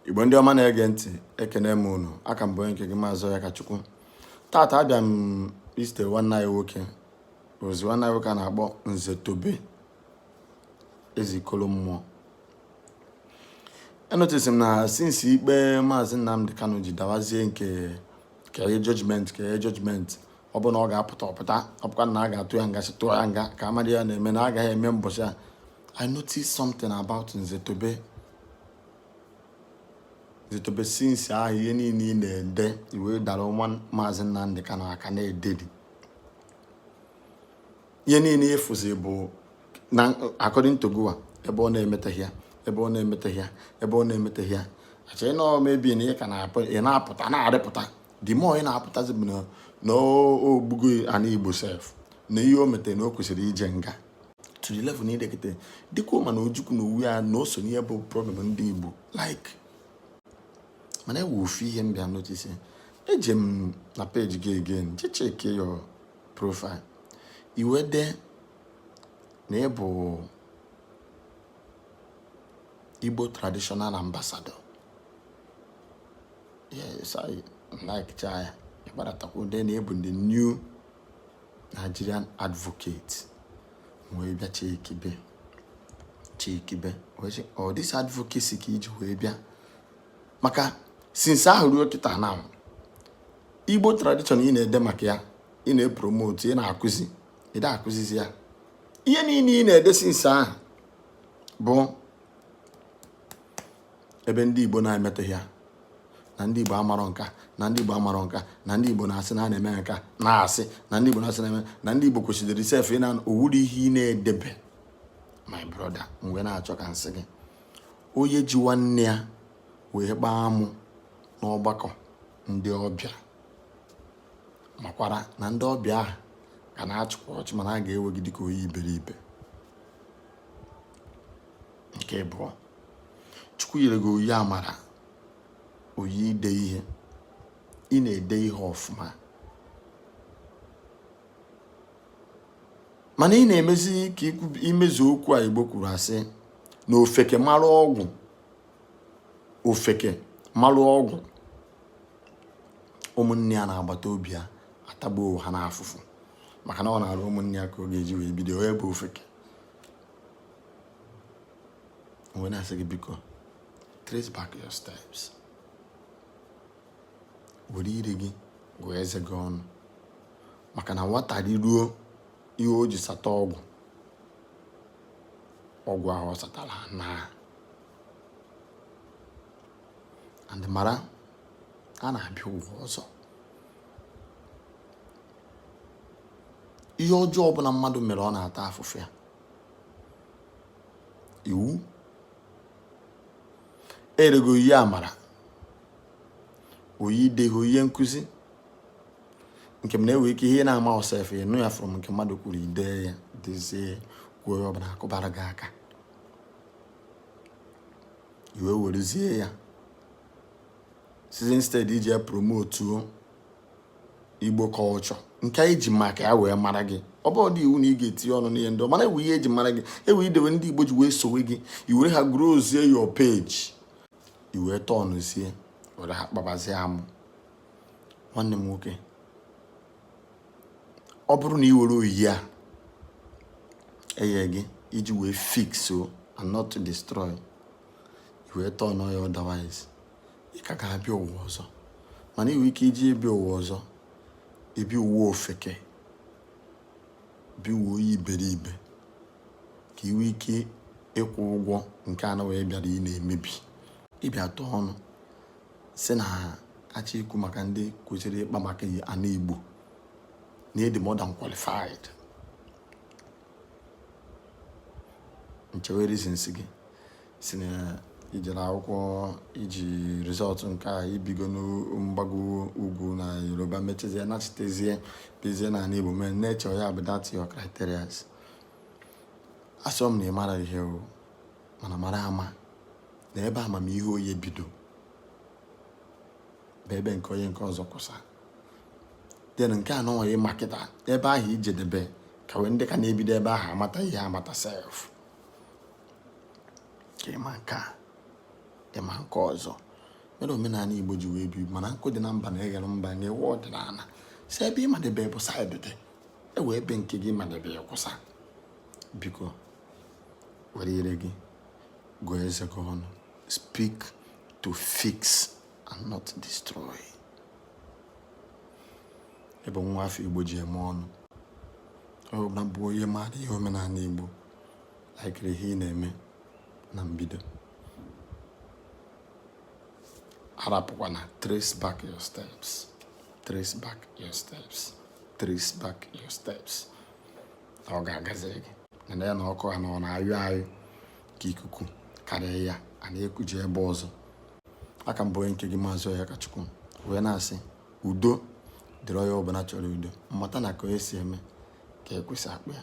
igbo ndị ọma na-ege ntị ekene m unu a ka m bụ onye nke gị maazị akachukwu tata abịa m izite nwanne anyị nwoke ozi nwanne anyị nwoke a na-akpọ nze tobe ezeikolo mmụọ enotice m na since ikpe maazị nnamdị kanu ji dawazie nke kee judgment kee judgment ọ bụ na ọ ga-apụta ọ pụta ọ bụkwa na a ga-atụ ya nga si tụọ ya nga ka a madị ya na-eme na agaghị eme mbọchị a i notice something about nze tobe nze tobe since ahụ ihe niile ị na-ede i wedara nwa maazị Nnamdị Kanu aka na-ededi ihe niile ị fụzi bụ na according to gụwa ebe ọ na-emeteghị ya ebe ọ na-emeteghị ya ebe ọ na-emeteghị ya achọ ị nọọ maybe na ị ka na-apụta na-arịpụta the more ị na-apụtazi bụ na o gbugo ana Igbo sef na ihe o metere na o kwesịrị ije nga to the level na i dekete dịka ụma na ojukwu n'onwe ya na o so n'ihe bụ problem ndị igbo like mana e nwe ofu ihe m bịa notice eje m na page gị again jee checkie your profile i wee dee na ị bụ igbo traditional ambassador yes i like chaa ya ị gbadatakwu dee na ị bụ the new Nigerian advocate wee bịa checkibe checkibe ọ this advocacy ka i ji wee bịa maka since ahụ ruo kịta na Igbo tradition ị na-ede maka ya ị na-epromote ị na-akụzi ị da-akụzizi ya ihe niile ị na-ede since ahụ bụ ebe ndị Igbo na-emeteghị ya na ndị Igbo amarọ nka na ndị Igbo amarọ nka na ndị Igbo na-asị na a na-eme nka na-asị na ndị Igbo na-asị na-eme na ndị Igbo kwesịrị sef ị na ọ wụrụ ihe ị na-edebe my brother mgbe na-achọ ka m sị gị onye ji nwanne ya wee kpaa amụ n'ọgbakọ ndị ọbịa makwara na ndị ọbịa ahụ ka na-achịkwa ọchị mana a ga-ewe gị dịka onye iberibe nke ịbụọ chukwu nyere gị onyinye amara onyinye ide ihe ị na-ede ihe ọfụma mana ị na-emezi ka i mezu okwu a igbo kwuru a sị na ofeke mara ọgwụ ofeke mara ọgwụ ụmụnne ya na agbata obi ya atagbuo ha n'afụfụ maka na ọ n'arụ ụmụnne ya ka ọ ga-eji wee bido onye bụ ofeke M wee na-asị gị biko, trace back your steps. Were ire gị gụọ eze gị ọnụ maka na nwata riruo ihe o ji sata ọgwụ ọgwụ ahụ ọ satara naa and mara a na-abịa ụwa ọzọ ihe ọjọọ ọbụla mmadụ mere ọ na-ata afụfụ ya iwu erego oyi amara oyi deghe oyi nkụzi nke m na-ewe ike ihe na-amaọ sef ịnụ ya from nke mmadụ kwuru ide ya dezie kwuo ya ọbụna a kụbara gị aka i wee werezie ya sizi instead iji ya promotuo igbo culture nke anyị ji maka ya wee mara gị ọ bụ ọ dị iwu na ị ga-etinye ọnụ n'ihe ndị mana ewu ihe eji mara gị ewu idewe ndị igbo ji wee sowe gị i were ha growzie your page i wee turnụzie were ha kpabazie amụ nwanne m nwoke ọ bụrụ na ị were oyi a eye gị iji wee fix o and not to destroy i wee turnụọ ya otherwise ị ka ga-abịa ụwa ọzọ mana inwe ike iji abịa ụwa ọzọ abịa ụwa ofeke bịa ụwa oyi iberibe ka iwe ike ịkwụ ụgwọ nke a nọnwa ị bịara ị na-emebi ị bịa turnụọ sị na a chọ ikwu maka ndị kwesịrị ịkpa maka ana igbo na ị dị more than qualified nchewe reasons gị sị na i jere akwụkwọ i ji result nke a i bigo n'mgbago ugwu na yoruba mechezie nachitezie bizie na ana igbo mee nature ya bụ that your criteria asịọ m na ị mara ihe o mana mara ama na ebe amamihe onye bido bụ ebe nke onye nke ọzọ kwụsa then nke a nọnwa ị ma kịta ebe ahụ ijedebe ka wee ndị ka na-ebido ebe ahụ amata ihe amata sef ka ịma nke a ịma nke ọzọ mere omenala igbo ji wee bi mana nkụ dị na mba na-eghere mba na ewu ọdịnala si ebe ịmadebe bụ side ị dị ewe ebe nke gị madebe ya kwụsa biko were ire gị gụọ eze gị ọnụ speak to fix and not destroy ebe nwa afọ igbo ji eme ọnụ ọ na-abụ onye maara ihe omenala igbo na-ekiri ihe ị na-eme na mbido arapụkwana trace back your steps trace back your steps trace back your steps ọ ga-agazi gị na ya na ọkụ ha na ọ na-anyụ anyụ ka ikuku karịa ya a na-ekuje ebe ọzọ a ka m bụ onye nke gị maazị onyekachukwu wee na-asị udo dịrị onye ọbụla chọrọ udo mmata na ka onye si eme ka ekwe si akpọ ya